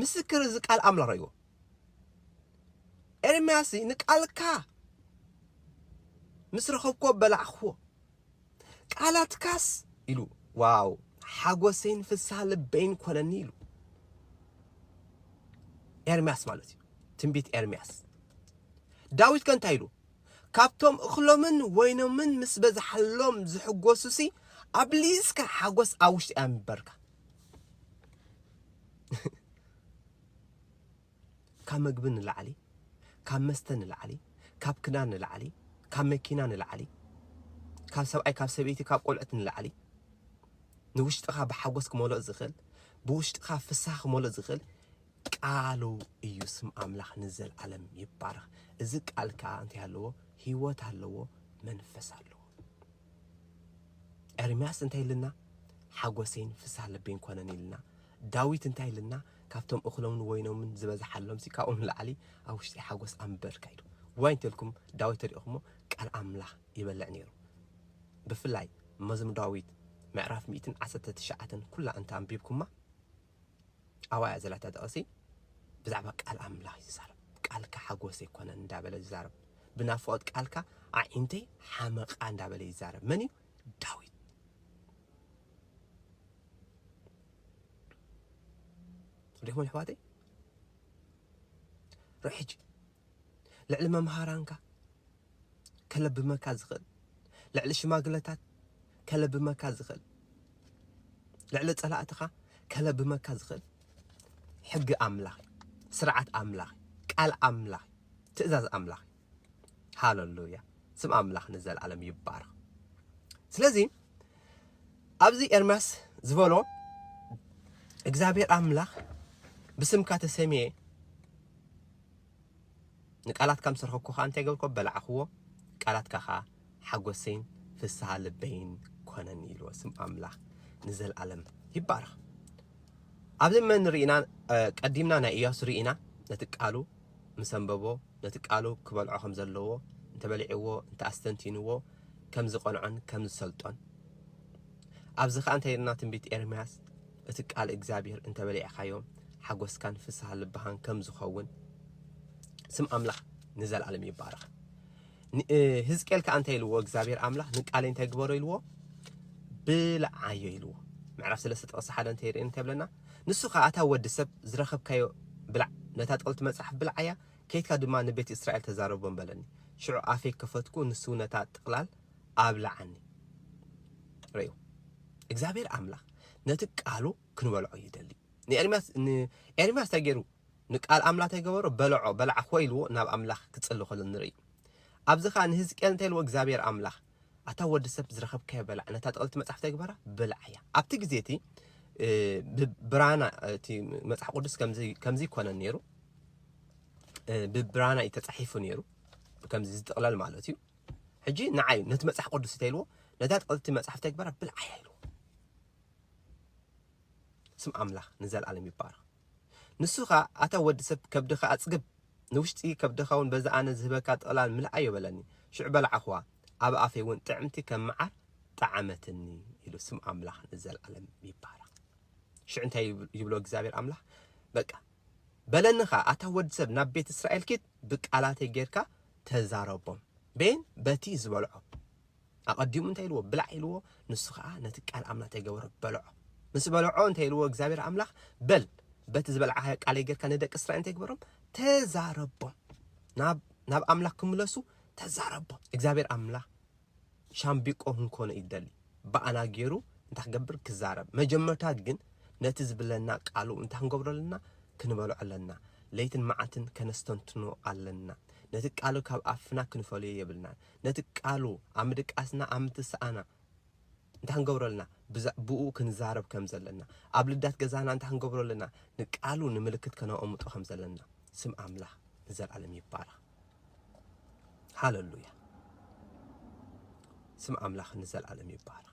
ምስክር እዚ ቃል ኣምላኽ ርእይዎ ኤርምያስ ንቃልካ ምስ ረኸብኮ በላዕክዎ ቃላትካስ ኢሉ ዋው ሓጎሰይን ፍስሃ ልበይን ኮነኒ ኢሉ ኤርምያስ ማለት እዩ ትንቢት ኤርምያስ ዳዊት ከ እንታይ ኢሉ ካብቶም እኽሎምን ወይኖምን ምስ በዝሓሎም ዝሕጎሱሲ ኣብሊስካ ሓጎስ ኣብ ውሽጢ ኣንበርካ ካብ መግቢ ንላዕሊ፣ ካብ መስተ ንላዕሊ፣ ካብ ክዳን ንላዕሊ፣ ካብ መኪና ንላዕሊ፣ ካብ ሰብኣይ ካብ ሰበይቲ ካብ ቆልዑት ንላዕሊ ንውሽጥኻ ብሓጎስ ክመልኦ ዝኽእል ብውሽጥኻ ፍስሃ ክመልኦ ዝኽእል ቃሉ እዩ። ስም ኣምላኽ ንዘለዓለም ይባረኽ። እዚ ቃል ከዓ እንታይ ኣለዎ? ህይወት ኣለዎ፣ መንፈስ ኣለዎ። ኤርምያስ እንታይ ኢልና ሓጎሰይን ፍስሃ ልበይን ኮነን ኢልና ዳዊት እንታይ ኢልና ካብቶም እኽሎምን ወይኖምን ዝበዝሓሎምሲ ካብኡ ንላዕሊ ኣብ ውሽጢ ሓጎስ ኣንበርካ ኢሉ ዋይ እንተልኩም ዳዊት ተሪእኹሞ ቃል ኣምላኽ ይበልዕ ነይሩ ብፍላይ መዝሙ ዳዊት ምዕራፍ ሚእትን ዓሰርተ ትሽዓተን ኩላ እንተ ኣንቢብኩማ ኣብኣ እያ ዘላ እታ ጥቕሲ። ብዛዕባ ቃል ኣምላኽ እዩ ዝዛረብ። ቃልካ ሓጎሰይ ኣይኮነን እንዳበለ ዝዛረብ። ብናፍቖት ቃልካ ኣዒንተይ ሓመቓ እንዳበለ ይዛረብ። መን እዩ? ዳዊት። ሪኹም ኣሕዋተይ ርሕጂ ልዕሊ መምሃራንካ ከለብመካ ዝኽእል ልዕሊ ሽማግለታት ከለብመካ ዝኽእል ልዕሊ ጸላእትኻ ከለብመካ ዝኽእል ሕጊ ኣምላኽ ስርዓት ኣምላኽ ቃል ኣምላኽ ትእዛዝ ኣምላኽ ሃለሉያ ስም ኣምላኽ ንዘለኣለም ይባረኽ ስለዚ ኣብዚ ኤርምያስ ዝበሎ እግዚኣብሔር ኣምላኽ ብስምካ ተሰሚየ ንቃላትካ ምስ ረኸብኩ ከኣ እንታይ ገብርኩ ኣበላዕክዎ ቃላትካ ከኣ ሓጎሰይን ፍስሃ ልበይን ኮነኒ ኢልዎ ስም ኣምላኽ ንዘልኣለም ይባረኽ ኣብዚ መን ርኢና ቀዲምና ናይ ኢያሱ ርኢና ነቲ ቃሉ ምስ ኣንበቦ ነቲ ቃሉ ክበልዖ ከም ዘለዎ እንተበሊዕዎ እንተ ኣስተንቲንዎ ከም ዝቐንዖን ከም ዝሰልጦን ኣብዚ ከኣ እንታይ ኢልና ትንቢት ኤርምያስ እቲ ቃል እግዚኣብሔር እንተ በሊዕኻዮ ሓጎስካን ፍስሃ ልብኻን ከም ዝኸውን ስም ኣምላኽ ንዘለዓለም ይባረኽ። ህዝቅኤል ከዓ እንታይ ኢልዎ እግዚኣብሔር ኣምላኽ ንቃለይ እንታይ ግበሮ ኢልዎ ብልዓዮ ኢልዎ ምዕራፍ ስለስተ ጥቕሲ ሓደ እንተ ይርኢ እንታይ ብለና ንሱ ከዓ ኣታ ወዲ ሰብ ዝረኸብካዮ ብላዕ ነታ ጥቕልቲ መጽሓፍ ብልዓያ ከይትካ ድማ ንቤት እስራኤል ተዛረቦም በለኒ ሽዑ ኣፌ ከፈትኩ ንሱ ነታ ጥቕላል ኣብልዓኒ ርእዩ እግዚኣብሔር ኣምላኽ ነቲ ቃሉ ክንበልዖ ይደሊ ንኤርምያስ ን ኤርምያስ ታይ ገይሩ ንቃል ኣምላ ታይ ገበሮ በለዖ በላዓ ኾይ ኢልዎ ናብ ኣምላኽ ክጽሊ ከሎ ንርኢ ኣብዚ ከኣ ንህዝቅኤል እንታይ ኢልዎ እግዚኣብሄር ኣምላኽ ኣታ ወዲ ሰብ ዝረኸብካዮ በላዕ ነታ ጥቅልቲ መጽሓፍ ታይ ግበራ በላዕያ ኣብቲ ግዜ እቲ ብ ብራና እቲ መጽሓፍ ቅዱስ ከምዚ ከምዚ ይኮነን ነይሩ ብ ብራና እዩ ተጻሒፉ ነይሩ ከምዚ ዝጥቅለል ማለት እዩ ሕጂ ንዓይ ነቲ መጽሓ ቅዱስ እንታይ ኢልዎ ነታ ጥዕልቲ መጽሓፍ ተግበራ ብልዓያ ኢልዎ ስም ኣምላኽ ንዘለኣለም ይባረኽ ንሱ ኸኣ ኣታ ወዲ ሰብ ከብድኻ ኣጽግብ ንውሽጢ ከብድኻ እውን በዛ ኣነ ዝህበካ ጥቕላል ምልኣዮ በለኒ ሽዑ በላዕኹዋ ኣብ ኣፈይ እውን ጥዕምቲ ከም መዓር ጠዓመትኒ ኢሉ ስም ኣምላኽ ንዘለኣለም ይባረኽ ሽዑ እንታይ ይብሎ እግዚኣብሔር ኣምላኽ በቃ በለኒ ኸኣ ኣታ ወዲ ሰብ ናብ ቤት እስራኤል ኪድ ብቃላተይ ጌርካ ተዛረቦም። ቤን በቲ ዝበልዖ ኣቐዲሙ እንታይ ኢልዎ? ብላዕ ኢልዎ፣ ንሱ ኸኣ ነቲ ቃል ኣምላኽ እንታይ ገበሮ? በልዖ። ምስ በልዖ እንታይ ኢልዎ? እግዚኣብሔር ኣምላኽ በል በቲ ዝበልዓኻዮ ቃለይ ጌርካ ንደቂ እስራኤል እንታይ ግበሮም? ተዛረቦም። ናብ ናብ ኣምላኽ ክምለሱ ተዛረቦም። እግዚኣብሔር ኣምላኽ ሻምቢቆ ክንኮኖ እዩ ዝደሊ ብኣና ጌሩ እንታይ ክገብር ክዛረብ መጀመርታ ግን ነቲ ዝብለና ቃሉ እንታይ ክንገብሮ ኣለና ክንበልዖ ኣለና ለይትን መዓልትን ከነስተንትኖ ኣለና ነቲ ቃሉ ካብ ኣፍና ክንፈልዮ የብልናን ነቲ ቃሉ ኣብ ምድቃስና ኣብ ምትሳኣና እንታይ ክንገብሮ ኣለና ብኡ ክንዛረብ ከም ዘለና ኣብ ልዳት ገዛና እንታይ ክንገብሮ ኣለና ንቃሉ ንምልክት ከነቐምጦ ከም ዘለና ስም ኣምላኽ ንዘለኣለም ይባረኽ ሃለሉያ ስም ኣምላኽ ንዘልኣለም ይባረኽ።